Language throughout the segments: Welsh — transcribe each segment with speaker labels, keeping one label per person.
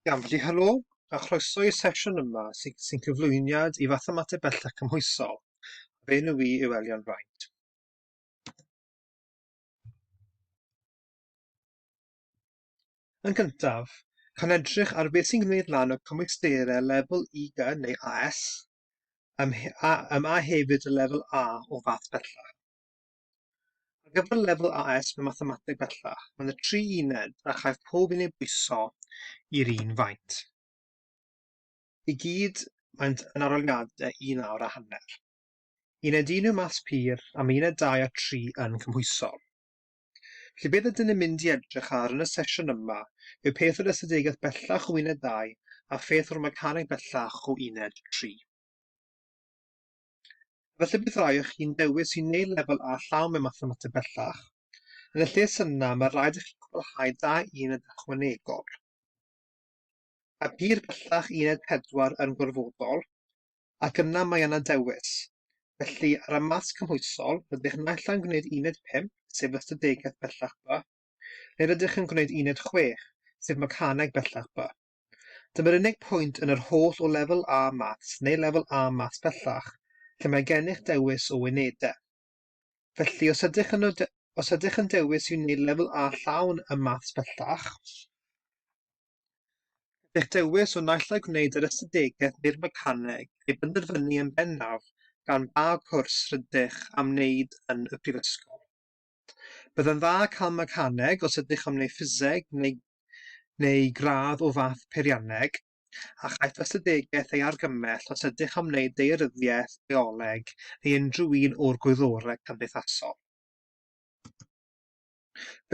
Speaker 1: Iawn, felly helo a chroeso i'r sesiwn yma sy'n sy cyflwyniad i fathemateg bellach cymhwysol. Fe nhw i yw Elion Rhaid. Yn gyntaf, cawn edrych ar beth sy'n gwneud lan o cymwysterau lefel IGA neu AS, ym, a, ym a hefyd y lefel A o fath bellach. Ar gyfer lefel AS mewn Mathemateg bellach, mae yna tri uned a chaiff pob un eu bwyso i'r un faint. I gyd, maent yn aroliadau un awr a hanner. Uned 1 yw maths pur a mae uned 2 a 3 yn cymhwysol. Felly beth ydyn ni'n mynd i edrych ar yn y sesiwn yma yw peth o'r ystadegaeth bellach o uned 2 a pheth o'r mecaneg bellach o uned 3. Felly bydd rhai o chi'n dewis i wneud lefel A llawn mewn mathemateg bellach. Yn y lle syna, mae rhaid i chi gwblhau da uned ychwanegol. A byr bellach uned 4 yn gorfodol, ac yna mae yna dewis. Felly, ar y maths cymhwysol, rydych naill ai'n gwneud uned 5, sef ystadegaeth bellach B, neu rydych yn gwneud uned 6, sef mecaneg bellach B. Dyma'r unig pwynt yn yr holl o Lefel A Maths neu Lefel A Maths bellach lle mae gennych dewis o unedau. Felly, os ydych yn y os ydych yn dewis i wneud Lefel A llawn ym Maths bellach, eich dewis o naill ai gwneud yr Ystadegau neu'r Mecaneg ei benderfynu yn bennaf gan ba gwrs rydych am wneud yn y Prifysgol. Byddai'n dda cael mechaneg os ydych am wneud ffiseg neu neu gradd o fath peirianneg, a chaiff ystadegeth ei argymell os ydych am wneud daearyddiaeth, bioleg neu unrhyw un o'r gwyddorau cymdeithasol.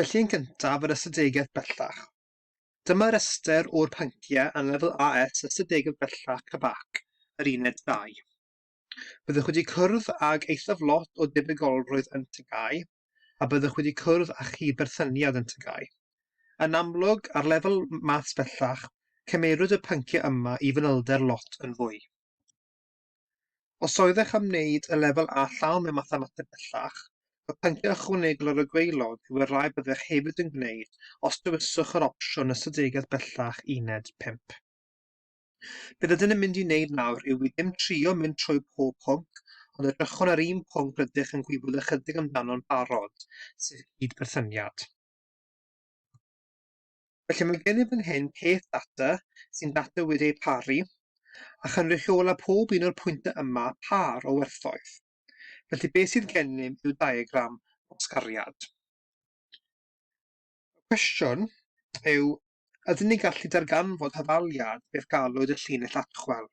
Speaker 1: Felly yn gyntaf yr ystadegeth bellach. Dyma restr o'r pynciau yn lefel AS Ystadegedd Bellach, CBAC, yr Uned 2. Byddwch wedi cwrdd ag eithaf lot o debygolrwydd yn TGAU a byddwch wedi cwrdd â chi berthyniad yn TGAU. Yn amlwg, ar lefel maths bellach, cymerwyd y pynciau yma i fanylder lot yn fwy. Os oeddech am wneud y lefel A llawn mewn mathemateg bellach, y pynciau ychwanegol ar y gwaelod yw'r rai byddech hefyd yn gwneud os dewiswch yr opsiwn ystadegaudd bellach uned 5. Be rydyn yn mynd i wneud nawr yw i ddim trio mynd trwy pob pwnc, ond edrychwn ar un pwnc rydych yn gwybod ychydig amdano'n barod, sef cyd-berthyniad. Felly mae gennym fan hyn peth data sy'n data wedi ei paru, a chynrychiola pob un o'r pwyntau yma pâr o werthoedd. Felly beth sydd gennym yw diagram gwasgariad. Y cwestiwn yw Ydyn ni'n gallu darganfod hafaliad beth galwyd y llinell atchwel?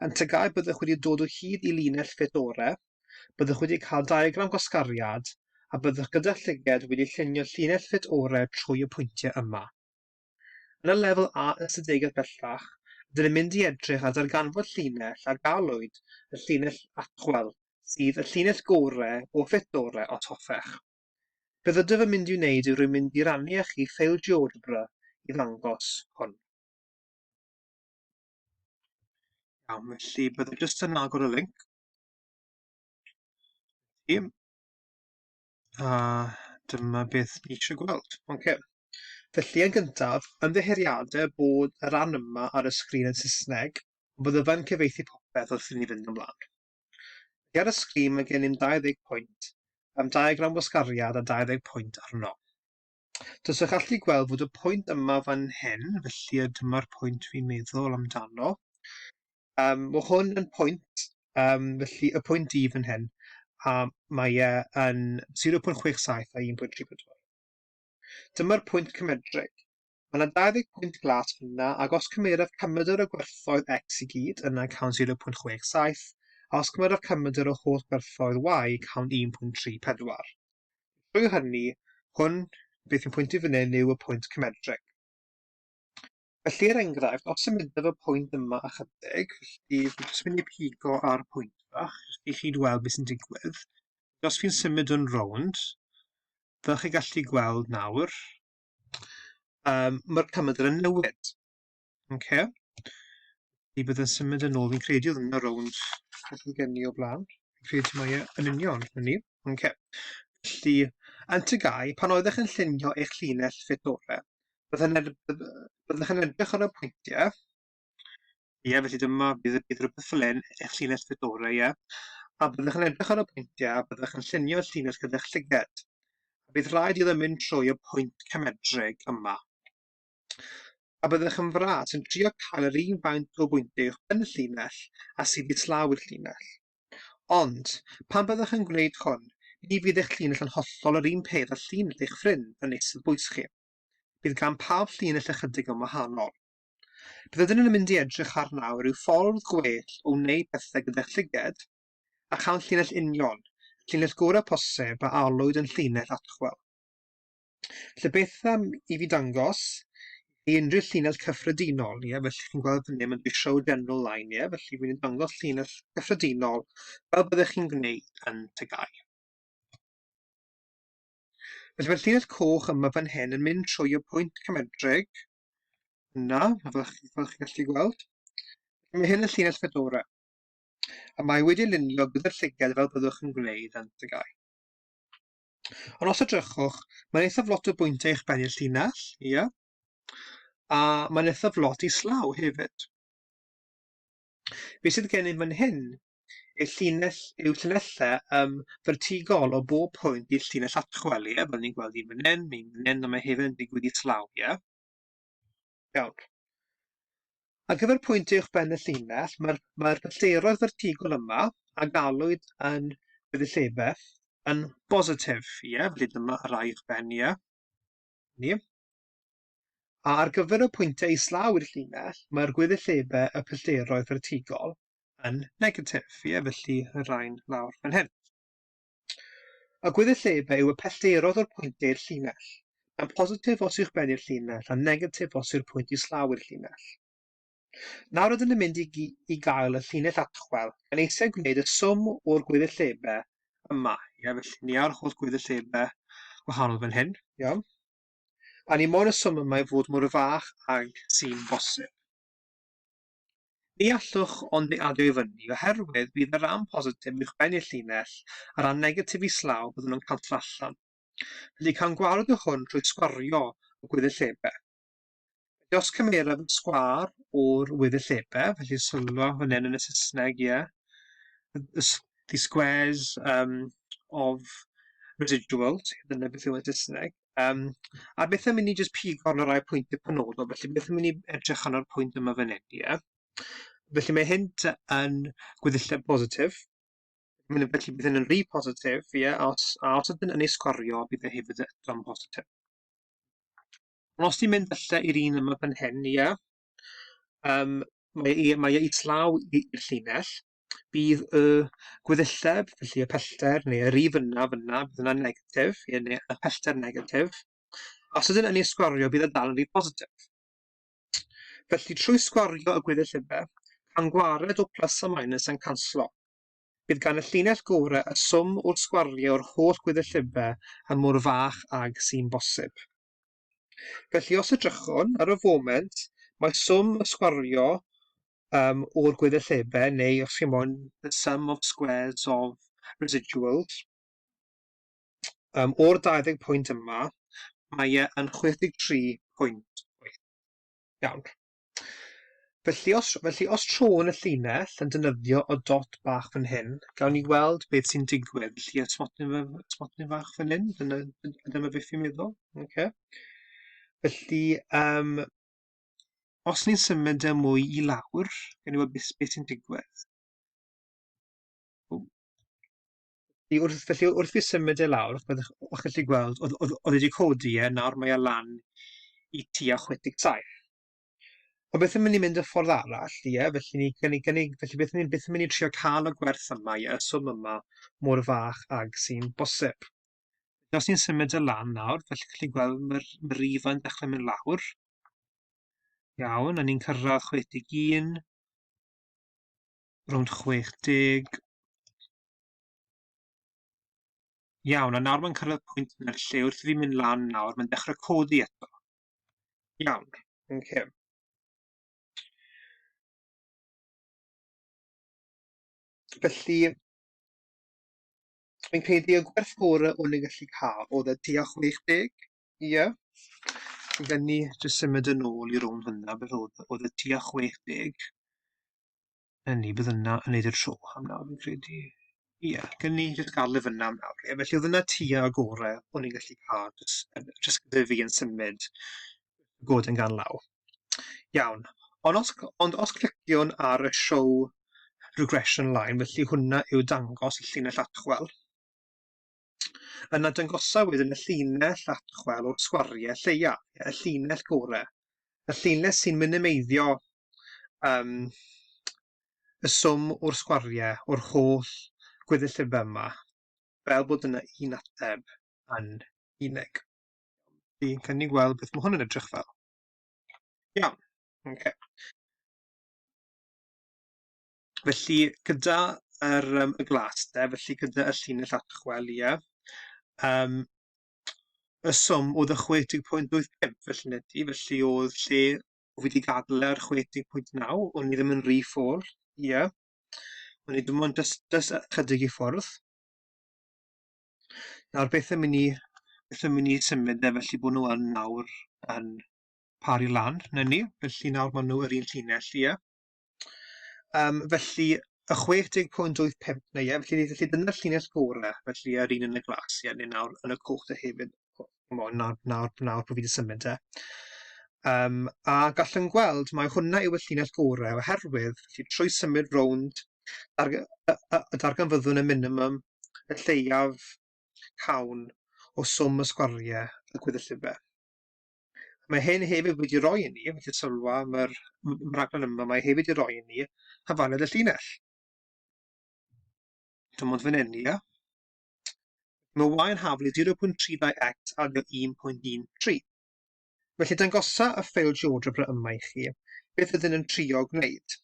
Speaker 1: Yn tegai byddwch wedi dod o hyd i linell fit ore, byddwch wedi cael diagram gwasgariad, a byddwch gyda llyged wedi llunio llinell fit ore trwy y pwyntiau yma. Yn y lefel A ystadegau bellach, ydyn ni'n mynd i edrych ar ddarganfod llinell a galwyd y llinell atchwel, sydd y llinell gore o fit ore, os hoffech. Beth ydw yn mynd i'w wneud yw rwy'n mynd i rannu â chi ffeil GeoGebra i ddangos hwn. Iawn, felly byddai jyst yn agor y link. I. A dyma beth ni eisiau gweld. Okay. Felly yn gyntaf, ymddeheuriadau bod y rhan yma ar y sgrin yn Saesneg, ond byddai'n cyfeithi popeth wrth i ni fynd ymlaen. Ac ar y sgrin mae gennym 20 pwynt, am diagram wasgariad a 20 pwynt arno. Does eich allu gweld fod y pwynt yma fan hyn, felly y dyma'r pwynt fi'n meddwl amdano. Um, mae hwn yn pwynt, um, felly y pwynt i fan hyn, a mae e yn 0.67 a 1.34. Dyma'r pwynt cymedrig. Mae 'na 20 pwynt glas fan'na, ac os cymeraf cymedr o gwerthoedd X i gyd, yna cawn 0.67, a os cymeraf cymedr o holl gwerthoedd Y, cawn 1.34. Trwy hynny, hwn, beth sy'n pwyntu fan hyn yw y pwynt cymedrig. Felly, er enghraifft, os symudaf y pwynt yma ychydig, felly, fi'n jyst mynd i pigo ar pwynt bach, jyst i chi weld beth sy'n digwydd. Os fi'n symud yn rownd, fel chi'n gallu gweld nawr, um, mae'r cymadr yn newid. Okay. I bydd yn symud yn ôl, fi'n credu oedd yna rownd beth oedd gen i o blaen. Fi'n credu mae e yn union hynny. Okay. Felly, yn tygau, pan oeddech yn llunio eich llinell ffitore, byddwch yn edrych ar y pwyntiau Ie, felly dyma, bydd, bydd rhywbeth fel hyn, eich llinell Fedora, ie. A byddwch yn edrych ar y pwyntiau a byddwch yn llunio y llinell gyda'ch llyged. A bydd rhaid iddo mynd trwy y pwynt cymedrig yma. A byddwch yn fras yn trio cael yr un faint o bwyntiau uwch ben y llinell a sydd islaw i'r llinell. Ond, pan byddwch yn gwneud hwn, ni fydd eich llinell yn hollol yr un peth â llinell eich ffrind yn eistedd bwys chi. Bydd gan pawb llinell ychydig yn wahanol. Beth ydyn nhw'n mynd i edrych ar nawr yw ffordd gwell o wneud pethau gyda llyged a chael llinell union, y llinell gorau posib a alwyd yn llinell Atchwell. Felly beth am i fi dangos i unrhyw llinell cyffredinol, ie, felly chi'n gweld fan hyn, mae'n dweud show general line, ie, felly fi'n dangos llinell cyffredinol fel byddech chi'n gwneud yn tygau. Felly mae'r llinell coch yma fan hyn yn mynd trwy y pwynt cymedrig, Na, fel chi, fel chi gallu gweld. Mae hyn yn llinell Fedora, a mae wedi lunio gyda'r llygad fel byddwch yn gwneud yn dygau. Ond os edrychwch, mae'n eithaf lot o bwyntiau eich bennill llinell, ia? A mae'n eithaf lot i slaw hefyd. Be sydd gennym fan hyn? Y llinell yw llinellau um, fertigol o bob pwynt i'r llinell atchwel, ie? Fel ni'n gweld un fan hyn, un fan hyn, a mae hefyd yn digwydd i slaw, ie? Iawn. Ar gyfer pwynt uwch ben y llinell, mae'r mae pellteroedd fertigol yma a galwyd yn gweddill yn bositif, ie? Felly dyma y rai uwch ben, ie? Ni. A ar gyfer y pwyntiau islaw i'r llinell, mae'r gweddillebau y pellteroedd fertigol yn negatif, ie, felly y rhain lawr fan hyn. Y gweddillebau yw y pellteroedd o'r pwyntiau i'r llinell. Mae'n positif os yw'ch ben i'r llinell a negatif os yw'r pwynt islaw i'r llinell. Nawr ydyn ni'n mynd i, i gael y llinell atchwel, gan eisiau gwneud y swm o'r gweddillebau yma. Ie, felly ni awr holl gweddillebau wahanol fan hyn, iawn. A ni mor yswm y mae fod mor fach ag sy'n bosib. Ni allwch ond ni adio i fyny, oherwydd bydd y ran positif uwchben i'r llinell, a ran negatif islaw, byddwn yn cantor allan. Felly cawn gwared o hwn trwy sgwario y gwyddillebau. Felly os cymeraf yn sgwâr o'r weddilliebau, felly sylwa hwn yn y Saesneg, ie. The squares um, of residuals, dyna beth yw yn Saesneg. Um, a beth am i ni jyst pigo yn y rai pwyntiau penodol, felly beth am i ni edrych yn o'r pwynt yma fan hyn, ie. Felly mae hyn yn gweddilliau positif, Mae'n yn felly bydd hyn yn rhy positif, ie, a os, a os ydyn yn ei sgorio, bydd e hefyd eto'n positif. Ond os ti'n mynd falle i'r un yma fan hyn, ie, yym, mae e mae e islaw i- i'r llinell, bydd y gweddilleb, felly y pellter neu y rif yna fan'na, bydd yna'n negatif, ie, neu y pellter negatif. Os ydyn yn ei sgwario, bydd e dal yn rif positif. Felly, trwy sgwario y gweddillebau, pan gwared o plus a minus yn canslo. Bydd gan y llinell gore y swm wrth sgwario yr holl gwyddyllyfau a mor fach ag sy'n bosib. Felly os edrychwn ar y foment, mae swm y sgwario um, o'r gwyddyllyfau, neu os chi'n mo'n the sum of squares of residuals, um, o'r 20 pwynt yma, mae e yn 63 pwynt. Iawn. Felly os, felly os tro'n y llinell yn dynyddio o dot bach fan hyn, gawn ni weld beth sy'n digwydd. Felly y smotyn, smotyn fach fan hyn, dyna, dyna beth fi'n meddwl. Okay. Felly, um, os ni'n symud y e mwy i lawr, gawn ni weld beth, beth sy'n digwydd. Felly wrth felly wrth fi symud e lawr, ch'mod o'ch o'ch chi'n gallu gweld o'dd o'dd o'dd e 'di codi e, nawr mae e lan i tua chwech deg saith. Ond beth am i ni mynd y ffordd arall, ie? Felly ni gynni gynni felly beth ni'n beth am i ni trio ca'l y gwerth yma, ie, y swm yma mor fach ag sy'n bosib. Felly os ni'n symud e lan nawr, fel chi'n gallu gweld ma'r ma' rifa'n dechre mynd lawr. Iawn, a ni'n cyrradd chwech deg un. rownd 60. Iawn, a nawr mae'n cyrraedd pwynt yna lle wrth i fi mynd lan nawr, mae'n dechrau codi eto. Iawn, yn okay. Felly, fi'n credu y gwerth gore o'n i'n gallu cael oedd y tua 60. Ie. Yeah. Gan ni jyst symud yn ôl i rownd hwnna, beth oedd, oedd y tua 60. Yn ni, bydd yna yn neud y tro am nawr, fi'n credu. Ie, yeah, gen ni jyst garlif yna am nawr. Ie, felly oedd yna tua y gore o'n i'n gallu cael, jyst gyda fi yn symud god yn gan law. Iawn, ond os, ond os cliciwn ar y show regression line, felly hwnna yw dangos y llinell atchwel. Yna dangosaf wedyn y llinell atchwel o'r sgwariau lleia, y llinell gore, y llinell sy'n minimeiddio um, y swm o'r sgwariau o'r holl gweddillebau yma, fel bod yna un ateb yn unig. Fi'n cynnig gweld beth mae hwn yn edrych fel. Iawn, okay. Felly gyda yr yym y glas de felly gyda y llinell atchwel ie yym y swm oedd y chwe deg pwynt wyth pump felly neti felly oedd lle o fi di gadl e ar chwe deg pwynt naw o'n i ddim yn rhy ffôl ie o'n i dim ond dys dys ychydig i ffwrdd nawr beth yn mynd i beth yn mynd i symud e felly bod nhw yn nawr yn pari lan na ni felly nawr maen nhw yr un llinell ie Um, felly, y 60.85, neu ie, felly, felly dyna'r llinell gore, felly yr un yn y glas, ie, neu nawr yn y cwch dy hefyd, nawr, nawr, nawr, nawr bod fi wedi symud e. Um, a gallwn gweld, mae hwnna yw y llinell gore, oherwydd, felly, trwy symud rownd, darg y darganfyddwn y minimum, y lleiaf cawn o swm y sgwariau y gwyddellife. Mae hyn hefyd wedi rhoi i ni, yn gallu sylwa am yr rhaglen yma, mae hefyd wedi rhoi i ni hafaned y llinell. Dim ond fan hyn, ia. Mae y yn haflu 0.32x a 1.13. Felly dangosa y ffeil GeoGebra yma i chi, beth ydyn yn trio gwneud.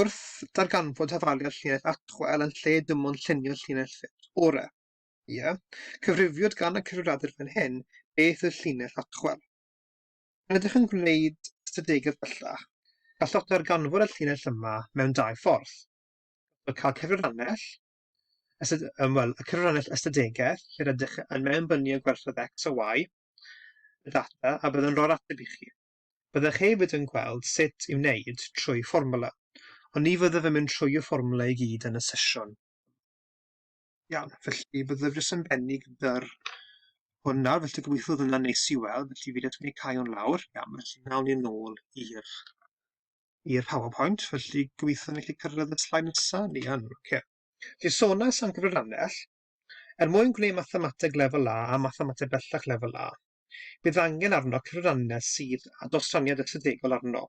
Speaker 1: Wrth darganfod hafaliad llinell atchwel yn lle dim ond llunio llinell ffit orau. Ie, cyfrifiwyd gan y cyfrifiadur fan hyn beth oedd llinell atchwel. Pan ydych yn gwneud ystadegau bellach, gallwch ddarganfod y llinell yma mewn dau ffordd. Gallwch cael cyfrifannell, ystad, um, well, y cyfrifannell ystadegaeth lle rydych yn mewnbynnu gwerthoedd X a Y, y data, a bydd yn rhoi'r ateb i chi. Byddwch hefyd yn gweld sut i wneud trwy fformwla, ond ni fyddaf yn mynd trwy y fformwla i gyd yn y sesiwn. Iawn, felly byddaf jyst yn bennu gyda'r hwn nawr, felly gobeithio oedd hwnna'n neis i weld, felly fi wedi cau o'n lawr, iawn, felly nawn ni'n ôl i'r i'r PowerPoint, felly gobeithio ni gallu cyrraedd y slaid nesaf, ni yn, oce. Okay. Felly sonas am gyfrannell, er mwyn gwneud mathemateg lefel A a mathemateg bellach lefel A, bydd angen arno cyfrannell sydd â dostraniad ystadegol arno.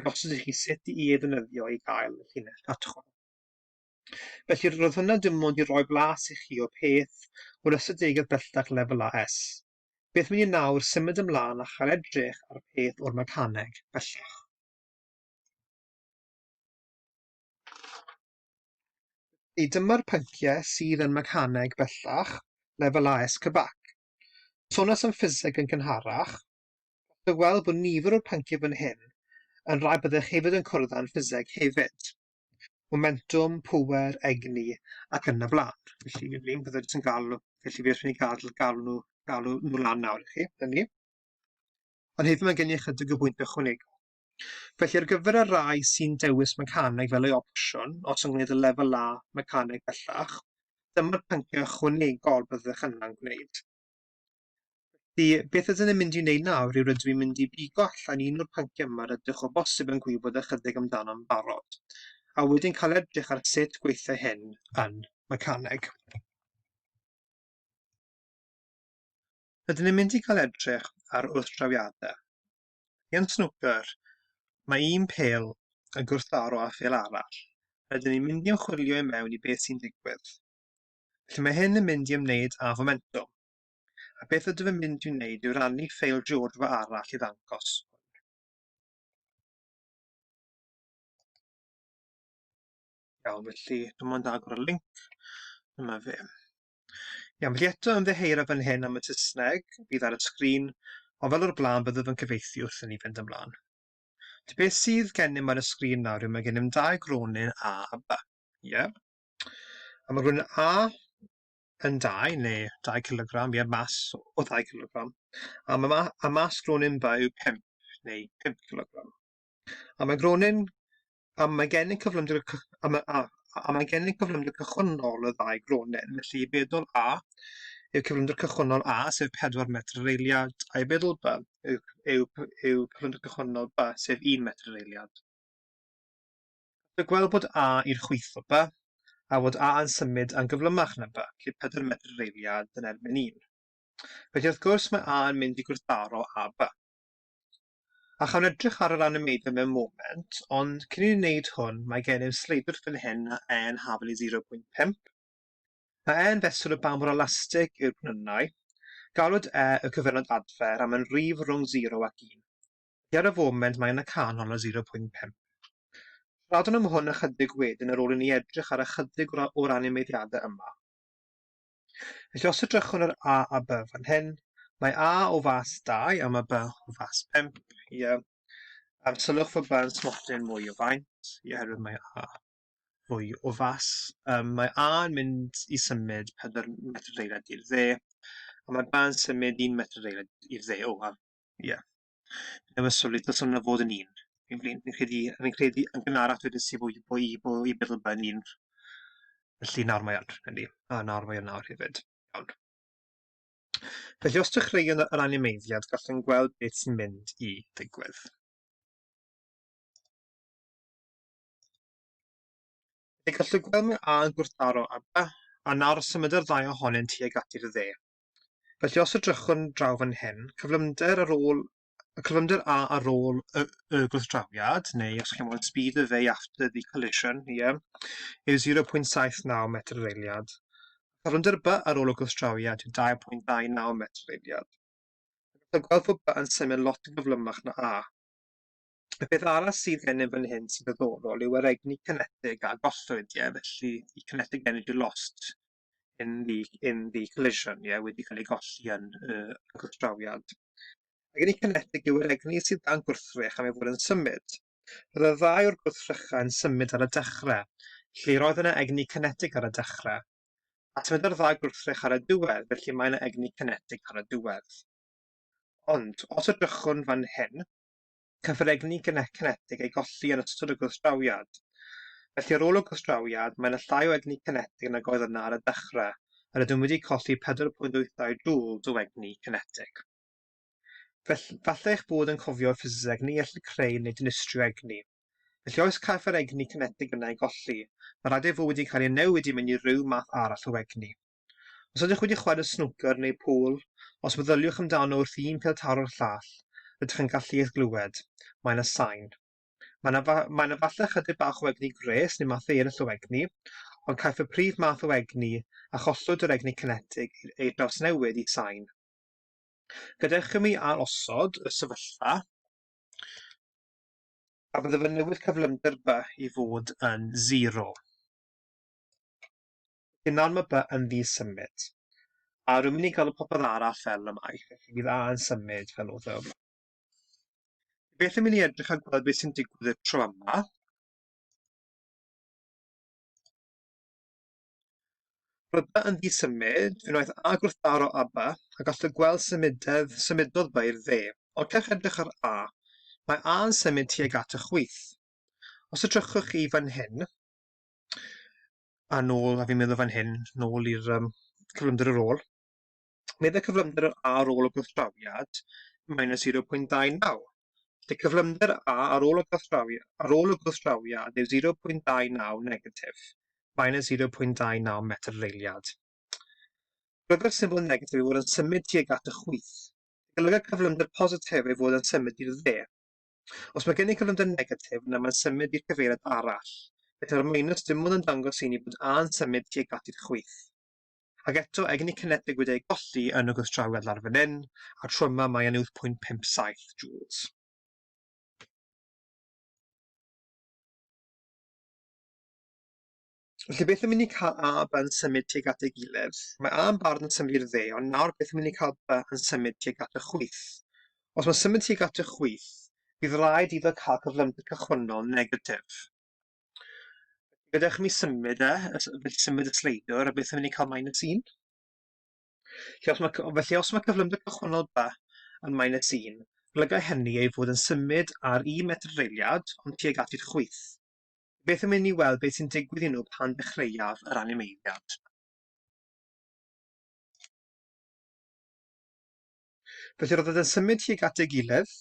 Speaker 1: a gosod i chi sut i ei ddefnyddio i gael y llinell fatchwm. Felly roedd hwnna dim ond i roi blas i chi o peth o'r ystadegau bellach lefel AS. Beth mynd i nawr symud ymlaen a chael edrych ar peth o'r mecaneg bellach. Felly dyma'r pynciau sydd yn mecaneg bellach lefel AS Cybac. Sonas am ffiseg yn gynharach, Gallwch chi weld bod nifer o'r pynciau fan hyn yn rhai byddech hefyd yn cwrdd â'n ffiseg hefyd. Momentwm, pŵer, egni ac yn y blaen. Felly mi fyddwn byddwn yn galw, felly fi eisiau gadw, galw nhw, galw nhw lan nawr i chi, yn ni. Ond hefyd mae gen i ychydig o bwynt ychwanegol. Felly ar gyfer y rai sy'n dewis mecaneg fel ei opsiwn, os yn gwneud y lefel A mecaneg bellach, dyma'r pynciau ychwanegol byddwch yna'n gwneud. Felly, beth ydyn ni'n mynd i wneud nawr yw rydw i'n mynd i bigo allan un o'r pynciau yma rydych o bosib yn gwybod ychydig amdano'n barod, a wedyn cael edrych ar sut gweithiau hyn yn mecaneg. Rydyn ni'n mynd i gael edrych ar wrthdrawiadau. Yn snwcer, mae un pel yn gwrthdaro â phel arall. Rydyn ni'n mynd i ymchwilio i mewn i beth sy'n digwydd. Felly mae hyn yn mynd i ymwneud â fomentwm. A beth ydw i'n mynd i wneud yw rannu ffeil GeoGebra arall i ddangos Iawn, felly dwi'n mynd agor y link. Dyma fe. Iawn, felly eto yn ddeheir o fan hyn am y Saesneg bydd ar y sgrin, ond fel o'r blaen byddaf yn cyfeithi wrth i ni fynd ymlaen. Felly beth sydd gennym ar y sgrin nawr yw mae gennym dau gronin A a B. Ie? Yeah? A mae rhywun A yn dau neu dau cilogram, ie, mas o ddau cilogram. A mae ma a mas gronin ba yw pump neu pump cilogram. A mae gronin... A mae gennym cyflymder y cy... A mae a a mae gennym cyflymder cychwynnol y ddau gronin. Felly, i feddwl A yw cyflymder cychwynnol A, sef 4 metr yr eiliad, a'i feddwl B yw yw yw cyflymder cychwynnol B, sef 1 metr yr eiliad. Gallai gweld bod A i'r chwith o By, a fod A yn symud a'n gyflymach na By, lle pedair medr yr eiliad yn erbyn un. Felly wrth gwrs mae A yn mynd i gwrthdaro â By. A chawn edrych ar yr animeiddio mewn moment, ond cyn i ni wneud hwn mae gennym sleidwr fan hyn a E yn hafel i 0.5. Mae E yn fesur o ba mor elastig yw'r gwnynau. Galwyd E y cyfenod adfer a mae'n rif rhwng 0 ac 1. Felly ar y foment mae yna canol o 0.5. Siaradwn am hwn ychydig wedyn ar ôl i ni edrych ar ychydig o'r animeiddiadau yma. Felly os edrychwn ar A a B fan hyn, mae A o fas 2 a mae B o fas 5. Ie. A'r sylwch fod B yn smotyn mwy o faint, ie, oherwydd mae A fwy o fas. Um, mae A yn mynd i symud 4 metr ddeiled i'r dde, a mae B yn symud 1 metr ddeiled i'r dde. O, a Ie. Yeah. Neu was sylwi, dylswn yna fod yn un. Fi'n fi'n fi'n credu fi'n credu yn gynharach dwedais i bod i bod i bod i meddwl bod yn un. Felly nawr mae yn, yndi. A nawr mae yn nawr hefyd. Iawn. Felly os dechreuwn yr animeiddiad, gallwn gweld beth sy'n mynd i ddigwydd. Fe gallwn gweld mae A yn gwrthdaro a, a nawr symud yr ddau ohonynt tuag at i'r dde. Felly os edrychwn draw fan hyn, cyflymder ar ôl y cyflymder A ar ôl y, y gwrthdrawiad, neu os chi'n meddwl speed of A after the collision, ie, yeah, yw 0.79 metr yr eiliad. Cyflymder B ar ôl y gwrthdrawiad yw 2.29 metr yr eiliad. Dwi'n gweld bod B yn symud lot yn gyflymach na A. Y peth arall sydd gennym fan hyn sy'n ddoddorol yw yr egni cynetig a gollwyd, ie, yeah, felly y kinetic energy lost in the, in the collision, ie, yeah, wedi cael ei golli yn y uh, gwrthdrawiad. Ac yn ei cynedig yw'r egni sydd dan gwrthrych am ei fod yn symud. Roedd y ddau o'r gwrthrychau yn symud ar y dechrau, lle roedd yna egni cynedig ar y dechrau. A symud ar ddau gwrthrych ar y diwedd, felly mae yna egni cynedig ar y diwedd. Ond, os ydrychwn fan hyn, Cafodd egni cinetig ei golli yn ystod y gwrthdrawiad. Felly ar ôl y gwrthdrawiad, mae yna llai o egni cinetig nag oedd yna ar y dechrau, a rydym wedi colli 4.82 joules o egni cinetig. Felly, falle eich bod yn cofio ffiseg ni ellir creu neu dinistrio egni. Felly oes caiff yr egni cinetig yna ei golli, mae rhaid ei fod wedi cael ei newid i mewn i ryw math arall o egni. Os ydych wedi chwarae snwcer neu pŵl, os meddyliwch amdano wrth i un pêl taro'r llall, rydych yn gallu eich glywed, mae yna sain. Mae yna, fa, mae yna falle chydig bach o egni gwres neu mathau eraill o egni, ond caiff y prif math o egni a chollwyd o'r egni cinetig ei drawsnewid i sain. Gadewch i mi ail-osod y sefyllfa, a byddaf yn newid cyflymder by i fod yn 0. Dyna'r ma by yn ddi symud. A rwy'n mynd i galw popeth arall fel y mae, felly bydd A yn symud fel oedd e yma. Beth yn mynd i edrych a gweld beth sy'n digwydd y tro yma. Roedd by yn ddi symud, fe wnaeth A gwrthdaro a by, a gall y gweld symudedd, symudodd by i'r dde. Orcech edrych ar A. Mae A yn symud tuag at y chwith. Os edrychwch chi fan hyn, a nôl, a fi'n meddwl fan hyn, nôl i'r um, cyflymder yr ôl. Meddai cyflymder yr A ar ôl y gwrthdrawiad, minus 0.29. Felly cyflymder A ar ôl y gwrthdrawiad, ar ôl y gwrthdrawiad yw 0.29 negatif, minus 0.29 metr reiliad. Rydw'r symbol negatif i fod yn symud tuag at y chwyth. Golyga cyflymder positif ei fod yn symud i'r dde. Os mae gennych gyflymder negatif, yna mae'n symud i'r cyfeiriad arall. Gyda'r minws, dim ond yn dangos i ni bod A yn symud tuag at i'r chwith. Ac eto, egni ni cineteg wedi ei golli yn y gwrthdrawiad lawr fan hyn, a'r tro yma mae e'n 8.57 joules. Felly beth yn mynd i cael A a B yn symud tuag at ei gilydd? Mae A yn barod yn symud i'r dde, ond nawr beth yn mynd i cael B yn symud tuag at y chwith? Os mae'n symud tuag at y chwith, bydd rhaid iddo cael cyflymder cychwynnol negatif. Gadewch i mi symud e, felly symud y sleidwr, a beth yn mynd i cael minus 1? Felly os mae, felly os mae cyflymder cychwynnol B yn minus 1, golygai hynny ei fod yn symud ar un metr reiliad, ond tuag at i'r chwith. Beth am inni weld beth sy'n digwydd i nhw pan ddechreuaf yr animeiddiad? Felly roedd yn symud tuag at ei gilydd,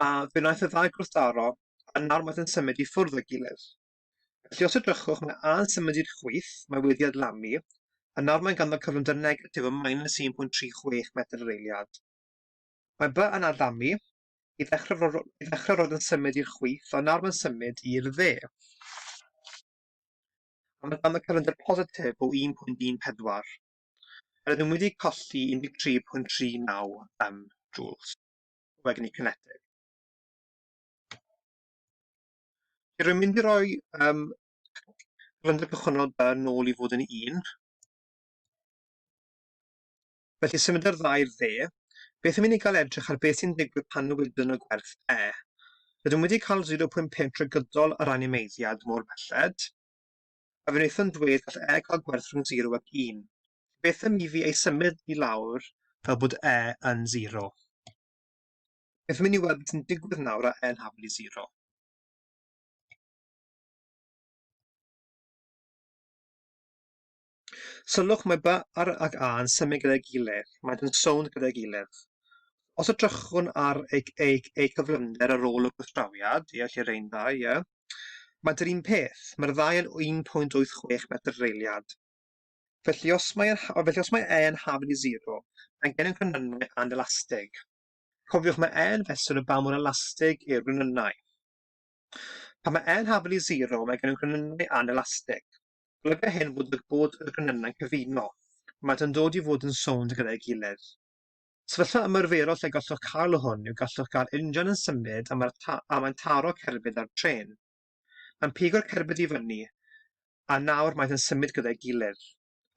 Speaker 1: a fe wnaeth y ddau gwrthdaro, a nawr maent yn symud i ffwrdd o'i gilydd. Felly os edrychwch, mae A yn symud i'r chwith, mae wedi adlamu, a nawr mae'n ganddo cyflymder negatif o minus 1.36 metr yr eiliad. Mae B yn adlamu, I ddechrau, ro- ro- i ddechrau roedd yn symud i'r chwith, ond nawr mae'n symud i'r dde. A mae ganddo cyfyngder positif o 1.14. Rydym wedi colli 13.39 um, joules o egni cinetig. Rwy'n mynd i roi um, cyfyngder cychwynnol yn ôl i fod yn un, Felly symudodd yr ddau i'r dde. Beth am i ni gael edrych ar beth sy'n digwydd pan newidwn y gwerth e? Rydym wedi cael 0.5 trwy gydol yr animeiddiad mor belled, a fe wnaethom ddweud gall e gael gwerth rhwng 0 ac 1. Felly beth am i fi ei symud i lawr fel bod e yn 0? Beth am i ni weld beth sy'n digwydd nawr â e'n hafal i 0? Sylwch, mae by ar ac a yn symud gyda'i gilydd, maent yn sownd gyda'i gilydd. Os edrychwn ar eu, eu, eu cyflymder ar ôl y gwrthdrawiad, ie, lle rein ddau, ie, maent yr un peth, mae'r ddau yn 1.86 metr reiliad. Felly os mae, yn, felly os mae e yn hafn i zero, mae gennym gronynnau anelastig. Cofiwch mae e yn fesur o ba mor elastig yw'r gronynnau. Pan mae e'n hafn i zero, mae gennym gronynnau anelastig. Golyga hyn fod y bod y gronynnau'n cyfuno. Maent yn dod i fod yn sownd gyda'i gilydd. Sefyllfa ymarferol lle gallwch cael hwn yw gallwch gael injan yn symud a mae'r ta a mae'n taro cerbyd ar drên. Mae'n pigo'r cerbyd i fyny a nawr maent yn symud gyda'i gilydd.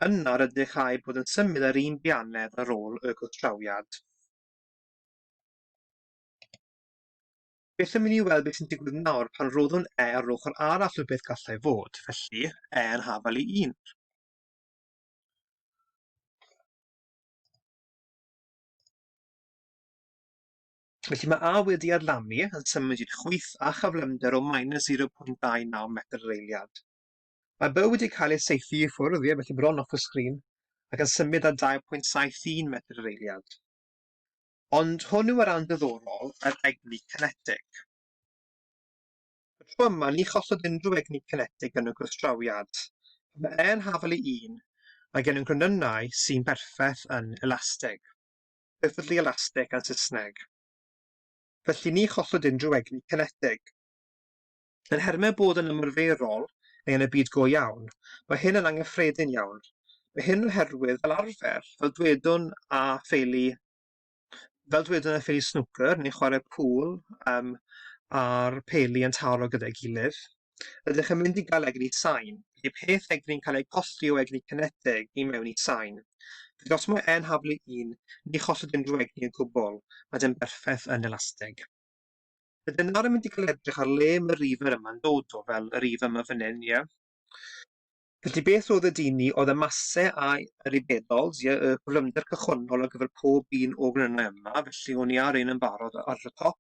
Speaker 1: Yna rydych a'u bod yn symud ar un bianedd ar ôl y gwrthdrawiad. Beth am i ni weld beth sy'n digwydd nawr pan roddwn e ar ochr arall o beth gallai fod, felly, e yn hafal i un. Felly mae A wedi adlamu yn symud i'r chwyth a chyflymder o minus 0.29 metr yr eiliad. Mae byw wedi cael ei seithi i ffwrdd, ie, felly bron off y sgrin, ac yn symud â 2.71 metr yr eiliad. Ond hwn yw y rhan diddorol, yr egni cinetig. Y tro yma, ni cholled unrhyw egni cinetig yn y gwrthdrawiad. Mae E yn hafal i un, mae gennym gronynnau sy'n berffaith yn elastig, perfectly elastic yn Saesneg. Felly ni cholled unrhyw egni cinetig. Yn nhermau bod yn ymarferol neu yn y byd go iawn, mae hyn yn angyffredin iawn. Mae hyn oherwydd, fel arfer, fel dwedwn a theulu, fel dwedwn y theulu snwcer neu chwarae pŵl um, a'r peli yn taro gyda'i gilydd. Ydych yn mynd i gael egni sain, lle peth egni'n cael ei colli o egni cineteg i mewn i sain. Felly os mae e'n haflu un, ni cholled unrhyw egni o gwbl, mae e'n berffaith yn elasteg. Bydde nawr yn mynd i cael edrych ar le mae'r river yma'n dod o, fel y river yma fan hyn, ie? Felly beth oedd y dyn ni, oedd y masse a yr ubedols, ie, y cyflymder cychwynnol ar gyfer pob un o grynnau yma, felly o'n i ar un yn barod ar y top,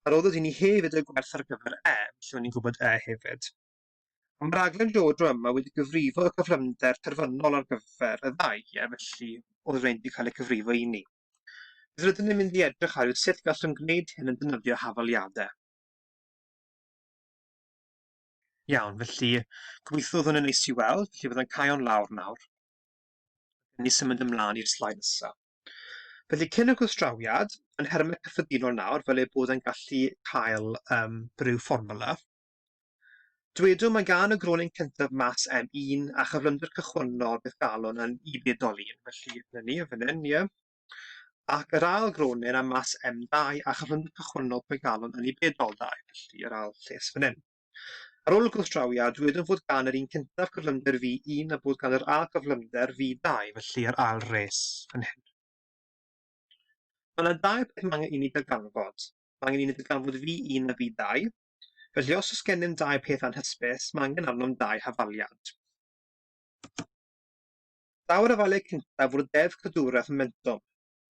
Speaker 1: a roedd y dyn ni hefyd y gwerth ar gyfer e, felly o'n i'n gwybod e hefyd. Ond mae'r rhaglen Jojo yma wedi cyfrifo y cyflymder terfynol ar gyfer y ddau, ie, felly oedd rhain wedi cael eu cyfrifo i ni. Bydd rydyn ni'n mynd i edrych ar yw sut gallwn gwneud hyn yn defnyddio hafaliadau. Iawn, felly gobeithio oedd hwnna'n neis i weld, felly byddai'n caio'n lawr nawr. Ni symud ymlaen i'r slaid nesaf. Felly cyn y gwrthdrawiad, yn nhermau cyffredinol nawr, fel eu bod yn gallu cael um, rhyw fformula, Dywedwn mae gan y gronyn cyntaf mas M1 a chyflymder cychwynnol beth galon yn Y bedol un, felly dyna ni, fan hyn, ie. Ac yr ail gronyn a mas M2 a chyflymder cychwynnol pwy galon yn Y bedol 2, felly yr ail lles fan hyn. Ar ôl y gwrthdrawiad, dywedwn fod gan yr un cyntaf cyflymder V1 a bod gan yr ail gyflymder V2, felly yr ail res fan hyn. Mae yna dau beth mae angen i ni darganfod. Mae angen i ni darganfod V1 a V2, Felly, os oes gennym dau peth anhysbys, mae angen arnom dau hafaliad. Daw'r hafaliad cyntaf o'r deddf cadwraeth momentwm.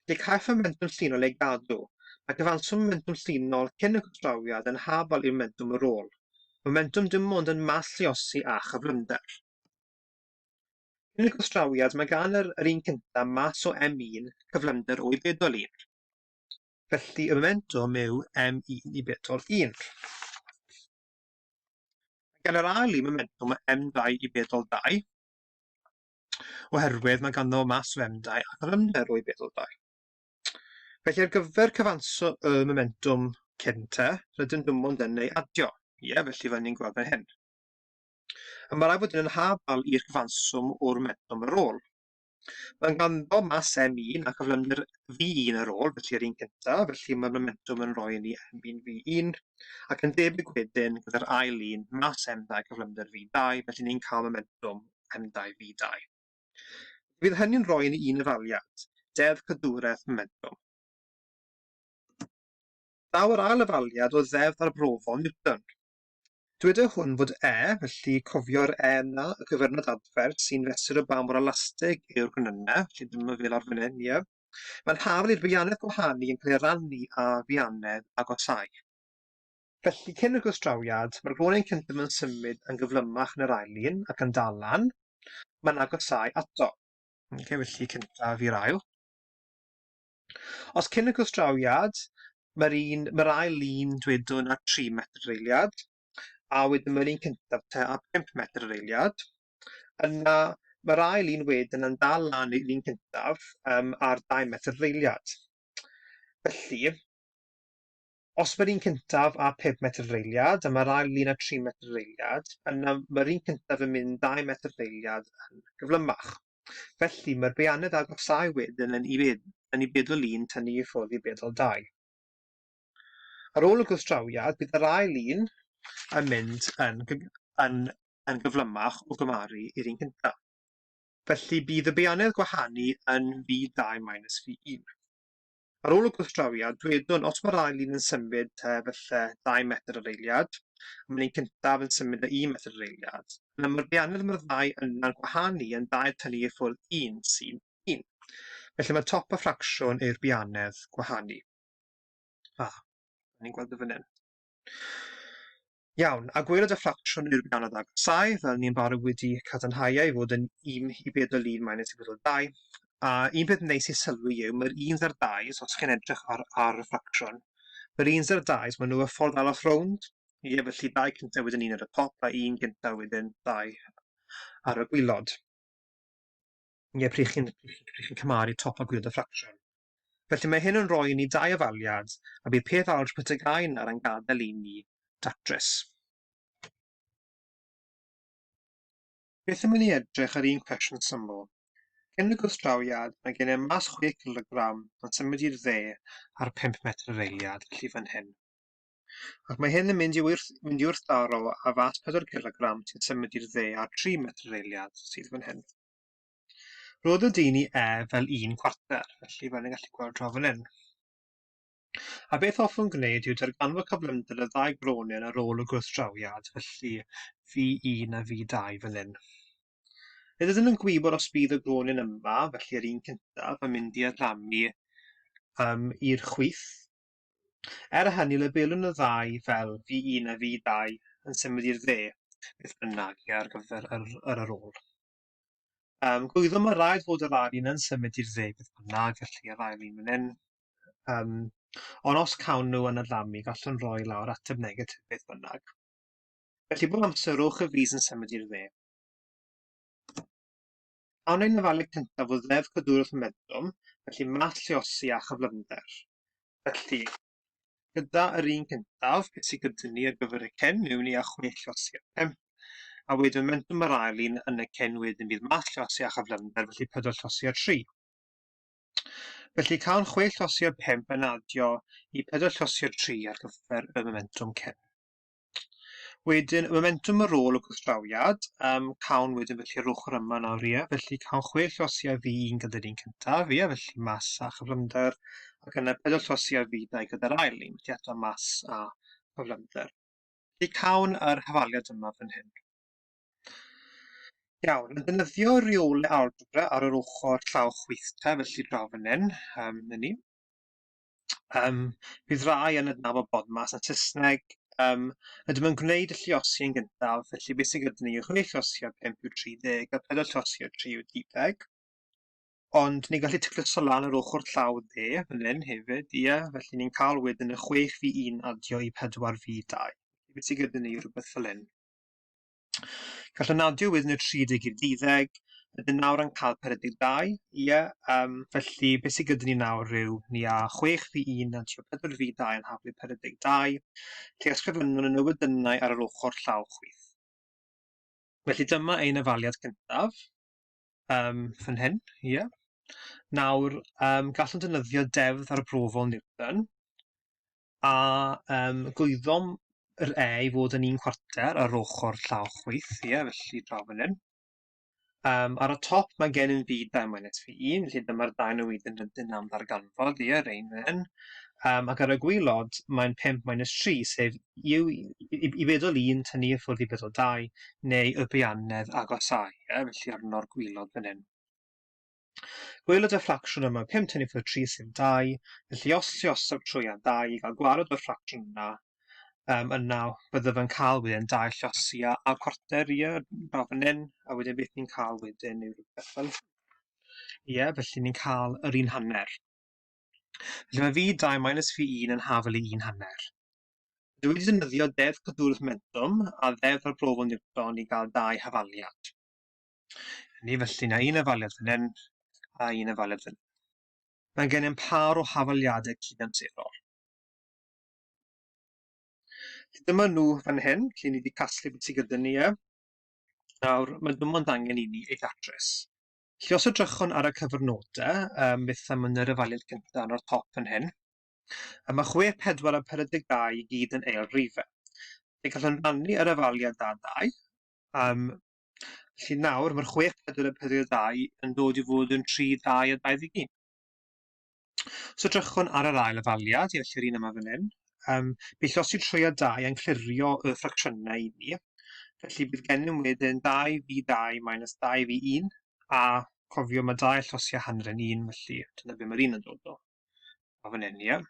Speaker 1: Felly, caiff y momentwm llinol ei gadw. Mae cyfanswm momentwm llinol cyn y cytrawiad yn hafal i'r momentwm ar ôl. Momentwm dim ond yn mall lluosi a chyflymder. Cyn y cystrawiad, mae gan yr, yr un cyntaf mas o m1, cyflymder o'i bedol un. Felly y momentum yw m1 i bedol 1. Gan yr ail un, momentum o m2 i bedol 2, oherwydd mae ganddo mas o m2 ac yr ymder o'i bedol 2. Felly ar gyfer cyfanso y momentum cyn te, rydyn nhw ond yn ei adio. Ie, felly fan ni'n gweld fan hyn. A mae rhaid bod yn hafal i'r cyfanswm o'r momentum ar ôl. Mae ganddo mas M1 a chyflymder V1 ar ôl, felly yr un cyntaf, felly mae'r momentum yn rhoi ni M1 V1, ac yn debyg wedyn gyda'r ail un, mas M2 cyflymder V2, felly ni'n cael momentum M2 V2. Bydd hynny'n rhoi ni un efaliad, deddf cadwraeth momentum. Daw yr ail efaliad o ddeddf arbrofol Newton. Dyweda hwn fod e, felly cofio'r e yna, y cyfernod adfer, sy'n fesur o ba mor elastig yw'r gwenynnau, felly dyma fel ar fan hyn, ie. Mae'n hafal i'r feianedd gwahanu yn cael ei rannu â feianedd agosáu. Felly, cyn y gwrthdrawiad, mae'r glonen cyntaf yn symud yn gyflymach na'r ail un, ac yn dal lan, mae'n agosáu ato. Okay, felly cyntaf i'r ail. Os cyn y gwrthdrawiad, mae'r un, mae'r ail lun dwedwn a 3 metr yr eiliad, a wedyn mae'r un cyntaf te a 5 metr yr eiliad. Yna, mae'r ail un wedyn yn dal lan i'r un cyntaf um, ar 2 metr yr eiliad. Felly, os mae'r un cyntaf a 5 metr yr eiliad, a mae'r ail lun a 3 metr yr eiliad, yna mae'r un cyntaf yn mynd 2 metr yr eiliad yn gyflymach. Felly, mae'r beirniad agosáu wedyn yn i bedl un tynnu i ffwrdd i bedl dau. Ar ôl y gwrthdrawiad, bydd yr ail un yn mynd yn yn yn gyflymach o gymharu i'r un cyntaf. Felly, bydd y beirniad gwahanu yn fi dau minus fi un. Ar ôl y gwrthdrawiad, dwedwn, os mae'r ail un yn symud te falle dau metr yr eiliad, a mae'n un cyntaf yn symud o un metr yr eiliad, yna mae'r beirniaid mae'r ddau yna'n gwahanu yn dair tynnu i ffwrdd un, sy'n un. Felly mae top a ffracsiwn yw'r beirniaid gwahanu. A, ni'n gweld o fan hyn. Iawn, a gweled y ffracsiwn yn erbyn anodd agosáu, fel ni'n barod wedi cadarnhau e i fod yn un i bedol un minus i bedol dau, a un peth neis i sylwi yw mae'r uns a'r dau, os chi'n edrych ar ar y ffracsiwn, mae'r uns a'r dau, maen nhw y ffordd arall rownd, ie, felly dau cyntaf wedyn un ar y top a un gyntaf wedyn dau ar y gwylod. Ie, pryd chi'n pryd chi'n cymharu top a gwylod y ffracsiwn. Felly mae hyn yn rhoi i ni dau ofaliad a bydd peth arall rhwt y gae yna yn gadael i ni datrys. Beth am i ni edrych ar un cwestiwn syml. Cyn y gwrthdrawiad, mae gennym mas chwe cilogram yn symud i'r dde ar pump metr yr eiliad, felly fan hyn. Ac mae hyn yn mynd i wrth, mynd i wrthdaro â fas pedwar cilogram sy'n symud i'r dde ar tri metr yr eiliad, sydd fan hyn. Rhoddodd Deini e fel un cwarter, felly fel ni'n gallu gweld draw fan hyn. A beth hoffwn gwneud yw darganfod cyflymder y ddau gronion ar ôl y gwrthdrawiad, felly V1 a V2 fan hyn. Nid ydyn nhw'n gwybod os bydd y gronion yma, felly yr un cyntaf, yn mynd i adlamu um, i'r chwith. Er hynny, labelwn y ddau fel V1 a V2 yn symud i'r dde, beth bynnag, ar gyfer yr, yr ar ôl. Um, Gwyddo, mae rhaid fod yr ail un yn symud i'r dde beth bynnag, felly yr ail un fan hyn. Um, ond os cawn nhw yn adlamu, gallwn roi lawr ateb negatif beth bynnag. Felly bob amser rhowch y fis yn symud i'r dde. Awn ein lefalu cyntaf o ddef cadwrwch y medrwm, felly math lleosi a chyflymder. Felly, gyda yr un gyntaf sy'n cydtynnu ar gyfer y cen mewn i a chwe llosi a phump, a wedyn mentum yr ail un yn y cen wedyn bydd math llosi a chyflymder, felly pedwar llosi a tri. Felly cawn chwe llosi a phump yn adio i pedwar llosi a tri ar gyfer y momentwm cen. Wedyn, momentum ar ôl y gwrthdrawiad, um, cawn wedyn felly yr ochr yma nawr, ie, felly cawn chwe llosi ar fi un gyda'r un cyntaf, ie, felly mas a chyflymder, ac yna pedwar llosi ar fi dau gyda'r ail un, felly eto mas a chyflymder. Felly cawn yr hafaliad yma fan hyn. Iawn, yn dynyddio reole algebra ar yr ochr llaw chwyth te, felly draw fan hyn, um, ni. Yym, bydd rhai yn adnabod Bodmas yn Saesneg. Yym, ydym yn gwneud y lliosi yn gyntaf, felly beth sydd gyda ni yw chwe lliosi a pump yw 30 a pedwar llosi a tri yw 10. Ond ni'n gallu tacluso lan yr ochr llaw dde fan hyn hefyd, ie, felly ni'n cael wedyn y chwech fi un adio i pedwar fi dau. Beth sydd gyda ni yw rhywbeth fel hyn. Gallwn adio wedyn y 30 i'r deuddeg, ydyn nawr yn cael 42, ie, um, felly beth sydd gyda ni nawr rhyw, ni a 6 fi 1 a tio 4 fi 2 yn haflu 42, lle ysgrifennwn y newydynnau ar yr ochr llaw chwith. Felly dyma ein afaliad cyntaf, um, fan hyn, ie. Yeah. Nawr, um, gallwn defnyddio defdd arbrofol Newton, A yym gwyddom yr e i fod yn un chwarter ar ochr llaw chwith, ie, felly draw fan hyn. Um, ar y top mae gen i'n byd ben minus fi 1, felly dyma'r dain o wyd yn rydyn am ddarganfod, ie, rein fan Um, ac ar y gwylod mae'n 5 minus 3, sef i, i, i bedol 1 tynnu i ffwrdd i bedol 2, neu y bianedd agosau, ie, felly arno'r gwylod fan hyn. Gwelwyd y ffracsiwn yma 5 tynnu fod 3 sy'n 2, felly os lluosog trwy a 2 i gael gwared o'r ffracsiwn yna, um, yna byddaf yn cael wedyn 2 llosi a, a cwarter i draw fan hyn, a wedyn beth ni'n cael wedyn yw rhywbeth fel Ie, yeah, felly ni'n cael yr un hanner. Felly mae fi 2 minus fi 1 yn hafel i 1 hanner. Dwi wedi defnyddio deddf cadwraeth momentum a ddeddf arbrofol Newton i gael dau hafaliad. Ni felly na un afaliad fan hyn a un afaliad fan hyn. Mae gennym par o hafaliadau cydamserol. Dyma nhw fan hyn, lle ni wedi casglu beth sydd gyda ni e. Nawr, mae dim ond angen i ni ei ddatrys. Felly os edrychwn ar y cyfrnodau, um, beth am yn yr afaliad gyntaf yn o'r top fan hyn, a mae 6, 4 a 42 i gyd yn eil rifau. Fe gallwn rannu yr afaliad da 2, um, Felly nawr mae'r 6 pedwar a 4 ddau yn dod i fod yn 3 ddau a 21. So drychwn ar yr ail afaliad, i allu'r un yma fan hyn. Um, bydd llosgi trwy a 2 yn clirio y ffracsiynau i ni. Felly bydd gennym wedyn 2 fi 2 minus 2 fi 1, a cofio mae 2 llosgi a hanner yn 1, felly dyna beth mae'r un yn dod o. A fan hyn, ie.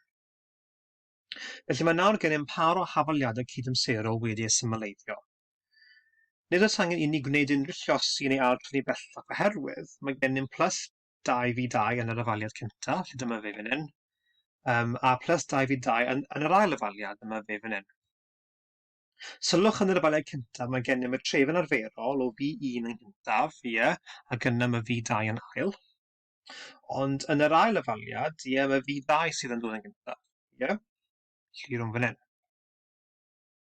Speaker 1: Felly mae nawr gennym par o hafaliadau cydymserol wedi eu symleiddio. Nid oes angen inni gwneud unrhyw llosi neu ail-dynnu bellach oherwydd mae gennym plus 2v2 yn yr afaliad cynta, lle dyma fe fan hyn, um, a plus 2v2 yn, yn yr ail afaliad, dyma fe fan hyn. Sylwch yn yr afaliad cyntaf, mae gennym y tref yn arferol o V1 yn gyntaf, ie, yeah, ac yna mae V2 yn ail. Ond yn yr ail afaliad, ie, yeah, mae V2 sydd yn dod yn gyntaf, ie, yeah, llirwm fan hyn.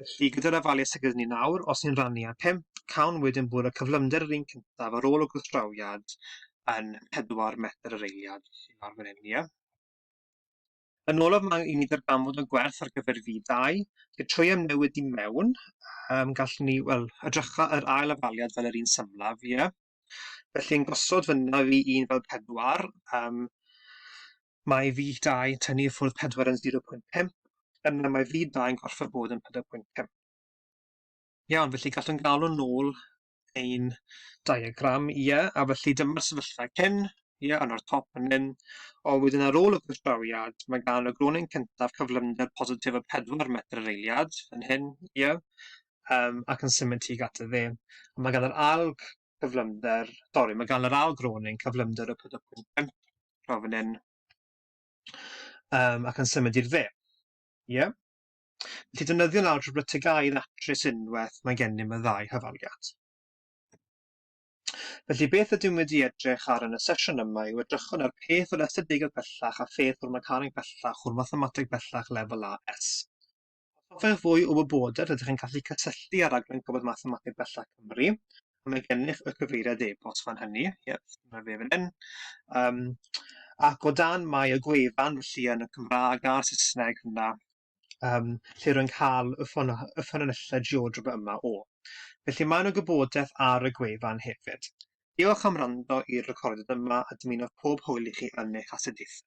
Speaker 1: Felly, gyda'r afalu sydd gyda ni nawr, os ni'n rannu ar 5, cawn wedyn bod y cyflymder yr un cyntaf ar ôl y gwrthdrawiad yn 4 metr yr eiliad, sy'n ar fan hyn, ia? Yn olaf mae i ni ddarganfod yn gwerth ar gyfer fi 2 Fe trwy am newid i mewn, um, gallwn ni, wel, edrycha yr ail afaliad fel yr un symlaf, ie. Felly yn gosod fyna fi un fel pedwar, um, Mae vih 2 yn tynnu i ffwrdd 4 yn 0.5, yna mae vih 2 yn gorfod bod yn 4.5. Iawn, felly gallwn galw'n nôl ein diagram, ie, a felly dyma'r sefyllfa cyn, ie, yn o'r top yn un, o wedyn ar ôl y gwrthdrawiad, mae gan y gronyn cyntaf cyflymder positif o 4 metr yr eiliad, yn hyn, ie, um, ac yn symud tuag at y dde. Mae gan yr alg cyflymder, sorry, mae gan yr ail groning cyflymder y pydygwyn pump draw fan hyn, um, ac yn symud i'r dde. Ie? Yeah? Felly defnyddio'n algebra tegau yn atrus unwaith mae gennym y ddau hyfaliad. Felly beth ydym wedi edrych ar yn y sesiwn yma yw edrychwn ar peth o'r estadegau bellach a pheth o'r mecaneg bellach o'r mathemateg bellach lefel AS. Os hoffech fwy o wybodaeth rydych yn gallu cysylltu â raglen Gofod Mathemateg Bellach Cymru a mae gennych y cyfeiriad e-bost fan hynny. Yep, dyma fe fan hyn. Um, ac o dan mae y gwefan felly yn y Cymraeg a'r Saesneg yna um, lle rwy'n cael y, ffon, y ffynonellau geodrop yma o. Felly mae yna gwybodaeth ar y gwefan hefyd. Diolch am rando i'r recordiad yma a dymuno pob hwyl i chi yn eich astudiaethau.